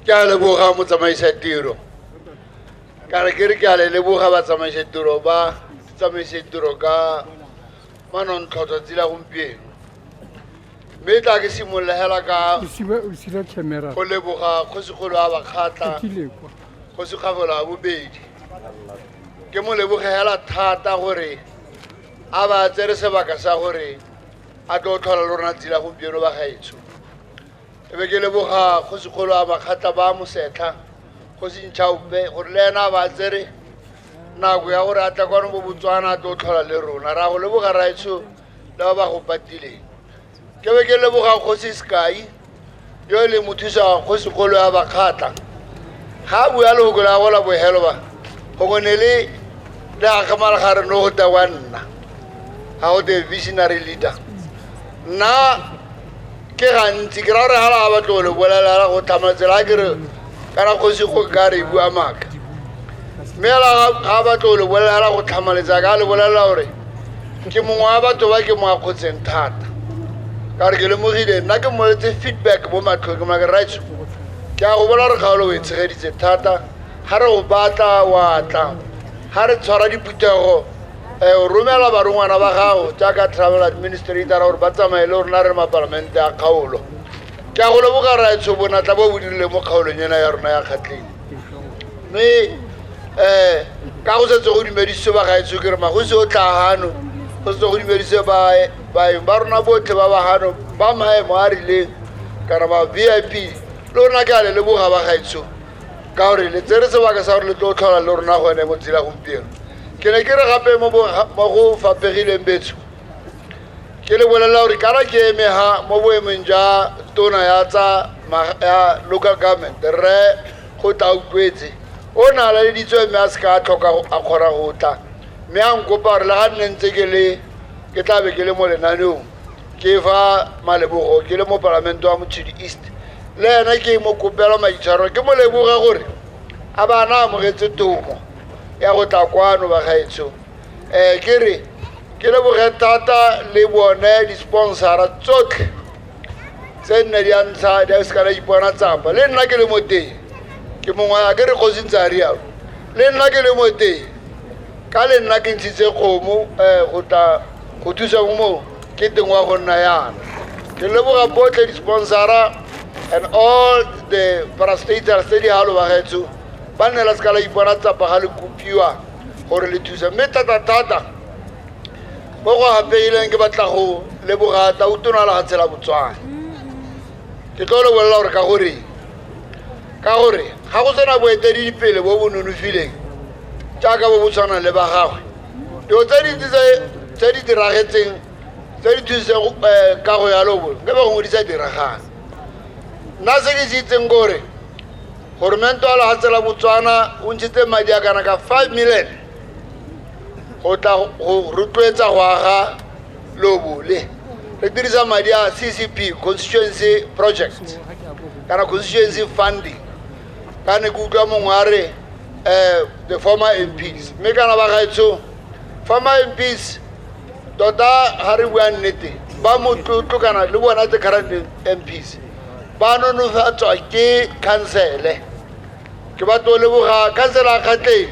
ke a leboga motsamaisa tiro ka re ke re ke a le leboga batsamaisa tiro ba tsamaisa tiro ka manontlhotlho tsela gompieno mme tla ke simolola hela ka go leboga kgosigolo a bakgatla kgosigafelo a bobedi ke mo leboge hela thata gore a ba tsere sebaka sa gore a tlo tlhola le rona tsela gompieno ba gaetsho e be ke leboga kgosikgolo a makgatla ba mosetlha kgosi ntšhaope gore le ena a ba tsere nako ya gore a tla kwano bo botswana a tlo tlhola le rona ra go leboga raetsho le ba ba go patileng ke be ke leboga kgosi sekai yo e leng mothusa kgosikgolo ya bakgatla ga a bua lefoko la gola bohelo ba gongwe ne le le akgamala ga re no go ta wa nna ga go te visionary leader nna ke gantsi ke ra gore ga la batlo le bolela la go tlhama tsela a kere kana kgosi go ka re bua maaka mme la ga batlo le bolela la go tlhamaletsa ka le bolela gore ke mongwe wa batho ba ke mo akgotseng thata ka gore ke lemogile nna ke mmoletse feedback mo matlhong ke maka right ke a go bola gore kgaolo o e tshegeditse thata ga re go batla wa tla ga re tshwara diphuthego um o romela barongwana ba gago jaaka travel administrator gore ba tsamaye le rona re mapalamente a kgaolo ke a go leboga raetsho bonatla bo bo dirile mo kgaolong ena ya rona ya kgatleng mme um ka go setse go dumedise ba gaetsho ke re magosi o tla gano go setse go dumedise baeng ba rona botlhe ba ba gano ba maemo a rileng kana ba v i p le rona ke a le leboga ba gaetsho ka gore le tsere sebaka sa gore le tlo tlhola le rona gone mo tsela gompieno ke ne ke re gape mo bo- ga- mo go fapegileng betsho ke le bolelela gore kana ke eme ha mo boemong jwa tona ya tsa ma- ya local government rre go tla utlwetse o ne a laleditswe mme a se ka a tlhoka go- a kgona go tla mme a nkopa gore le ga nne ntse ke le ke tla be ke le mo lenaneong ke fa malebogo ke le mo palamente wa motshedi east le ena ke mo kopela maitshwaro ke mo leboga gore a ba na amogetse tomo ya go tla kwano bagaetsho um eh, ke re ke leboge thata le bone di-sponsora tsotlhe tse nne di a ntlha di a se kana ipona tsapa le nna ke le mo teng ke mongwe a ke re kgosi ntse a rialo le nna ke le mo teng ka le nna ke ntshitse kgomo um go tla go thusa mo moo ke teng wa go nna yana ke leboga botlhe di-sponsora and all the parastaters tse di galo bagetso ba nne la seka la ipona tsapa ga le kopiwa gore le thusa mme thata-thata mo go gapeileng ke batla go leboga tautonala ga tshela botswana ke tlo lebolela gore ka gore ka gore ga go sena boeteledipele bo bo nonofileng jaaka bo bo tshwanang le ba gagwe dilo tse dintsi tse di diragetseng tse di thusitseng um eh, kago ya lobo nke ba go ngwe di sa diragana nna se ke se itseng kore goromente wa lefatshe la botswana o ntshitse madi a kana ka 5 million go tla go rotloetsa go aga lobole re dirisa madi a ccp constituency project kana constituency funding ka ne ke utlwa mongwe a re um the former mps mme kana ba gaetsho former mps tota ga re bua nnete ba motlotlo kana le bona the current mps ba nonofatswa ke khansele ke batla o leboga khansela a kgatleng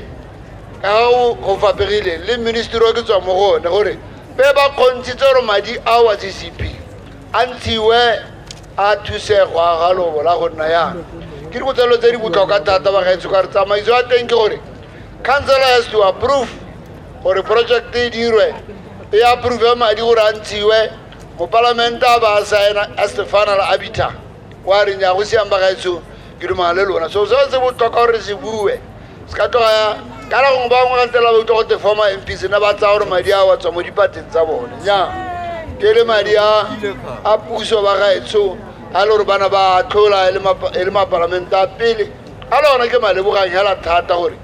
ka ga o go faperileng le ministry o ke tswa mo go one gore pe ba kgontshitse gore madi a wa ccp a ntshiwe a thuse go aga lobo la go nna yang ke dikotsalelo tse di botlhokwa thata ba gaetsho ka re tsamaiso ya teng ke gore councilor has to approve gore project e dirwe e approve madi gore a ntshiwe mopalamenta ba saena a stefana la abita kwa reng ya go siang bagaetsho ke dumana le lona so seo se botoka gore se bue se ka tloga kana gongwe ba bangwe gantse la ba utlwa gote former m p sena ba tsaya gore madi a wa tswa mo dipateng tsa bone nya ke le madi a a puso ba gaetsho a le gore bana ba tlhola e le mapa- e le mapalamenta a pele a le ona ke malebogang hela thata gore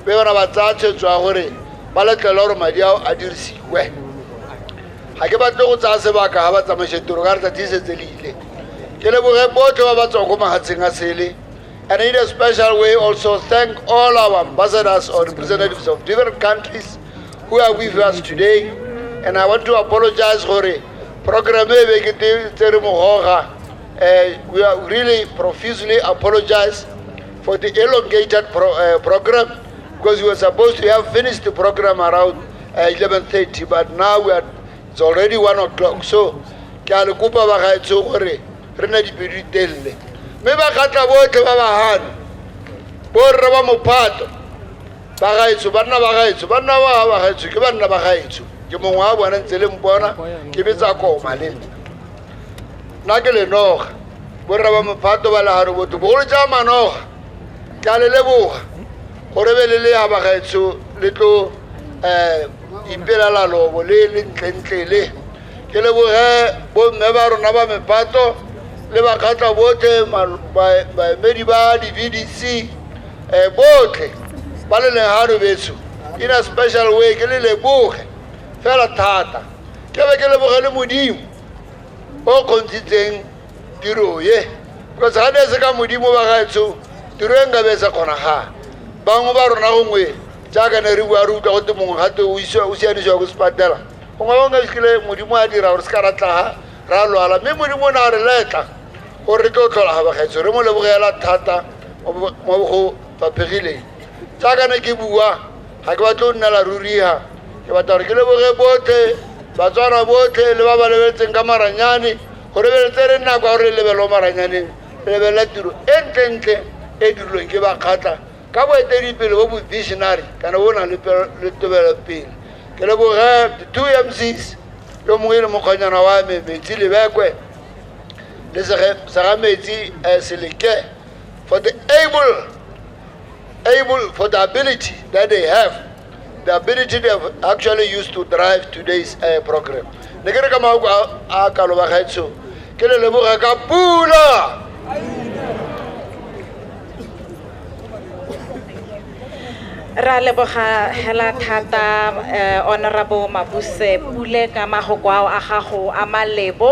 be bana ba tsaya tshwetso ya gore ba letlele gore madi ao a dirisiwe ga ke batle go tsaya sebaka ga batsamaiša tiro ka re tsatsi e setse le ile ke leboge botlhe ba ba tswang ko magatsheng a sele and in a special way also thank all our ambassadors or representatives of different countries who are with us today and i want to apologize gore program e be ke te- tsere mogoga Eh, we are really profusely apologize for the elongated pro, uh, program because we were supposed to have finished the program around uh, 11.30 but now we are, it's already 1 o'clock so ke a le kopa bagaetsho gore re na dipedi telele mme ba kgatla botlhe ba bagano borre ba mophato bagaetsho banna bagaetsho banna ba bagaetsho ke banna bagaetsho ke mongwe wa bona ntse le mpona ke betsa koma le nna nna ke lenoga borre ba mophato ba legano botho bogolo ja manoga ke a le leboga gore be le le ya bagaetsho le tlo um ipelela lobo le le ntlentle le ke leboge bomme ba rona ba mepato le bakgatla botlhe mal- ba- baemedi ba di-vdc um botlhe ba le leng gano betso in a special way ke le leboge fela thata ke be ke leboge le modimo o kgontshitseng tiro ye because ga ne se ka modimo ba gaetsho tiro e nka be e sa kgonagala bangwe ba rona gongwe jaaka ne re bua re utlwa gote mongwe gate o sianisiwa ko sepatela gongwe ba nka kile modimo a dira gore se ka ra tlaga ra lwala mme modimo o ne a re letla gore re tlo tlhola ga bagaetsho re mo lebogela thata mo go faphegileng jaaka ne ke bua ga ke batle o nnela ruriga ke batla gore ke leboge botlhe batswana botlhe le ba ba lebeletseng ka maranyane go lebeletse re nako ya gore re lebelo maranyaneng re lebelela tiro e ntlentle e dirilweng ke bakgatla ka boeteledipele bo bo visionary kana bo nang le tobelopele ke leboge two mcs yo mongwe e le mokgonyana wa me metsi lebekwe le sega metsi um seleke for the able able for the ability that they have the ability they have actually used to drive today's uh, program ne ke re ka maoko a kalo ba gaetsho ke le leboga ka pula ra leboga hela thata eh, honorable mabuse pule ka magoko ao a gago a malebo